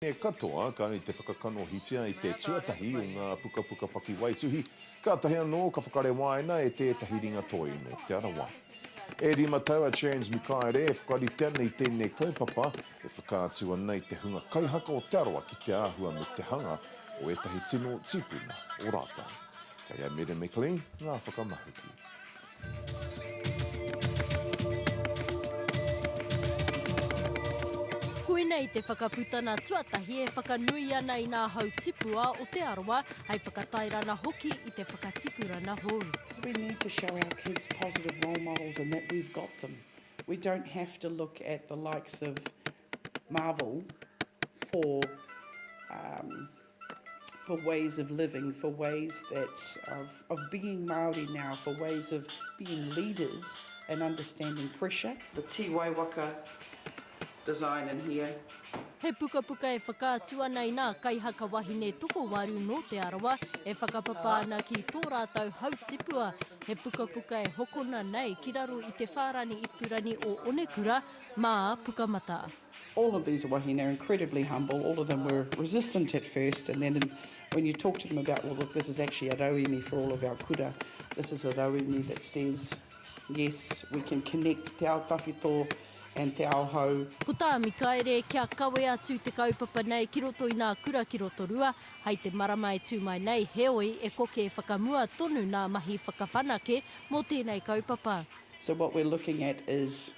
Wahine katoa kai te whakakanohitia i te tuatahi o ngā pukapuka pakiwaituhi, kātahi anō ka whakarewaina e tētahi ringatoi nō Te Arawa. E rima tau a Chance Mikaere e whakarite ana i tēnei kaupapa e whakaatu ana i te hunga kaihaka o Te Arawa ki te āhua me te hanga o ētahi tino tipuna o rātau. Kei a Meda McLean ngā whakamahuki. Koinei te whakaputanga tuatahi e whakanui ana i ngā hau tipua o Te Arawa hai whakatairanga hoki i te whakatipuranga hou. We need to show our kids positive role models and that we've got them. We don't have to look at the likes of Marvel for um for ways of living, for ways that of of being Māori now, for ways of being leaders and understanding pressure. The Te Waiwaka design in here. He pukapuka e whakaatu ana i nā kaihaka wahine tokowaru nō Te Arawa e whakapapa ana ki tō rātou hau tipua. He pukapuka e hokona nei ki raro i te whārani ipurangi o Onekura, Mā, Pukamata. All of these wahine are incredibly humble, all of them were resistant at first and then when you talk to them about well look this is actually a rauemi for all of our kura, this is a rauemi that says yes we can connect te ao tawhito and te ao hou. Puta, Mikaere, kia kawe atu te kaupapa nei ki roto i nā kura ki Rotorua hai te marama e tū mai nei, heoi e koke e whakamua tonu nā mahi whakawhanake mō tēnei kaupapa. So what we're looking at is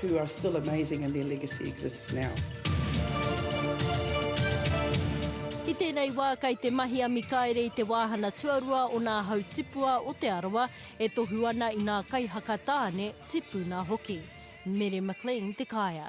who are still amazing and their legacy exists now. I tēnei wā kei te mahi a Mikaere i te wāhana tuarua o nā hau tipua o Te Arawa e tohu ana i nā kaihaka tāne, tipuna hoki. Mere McLean te kaea.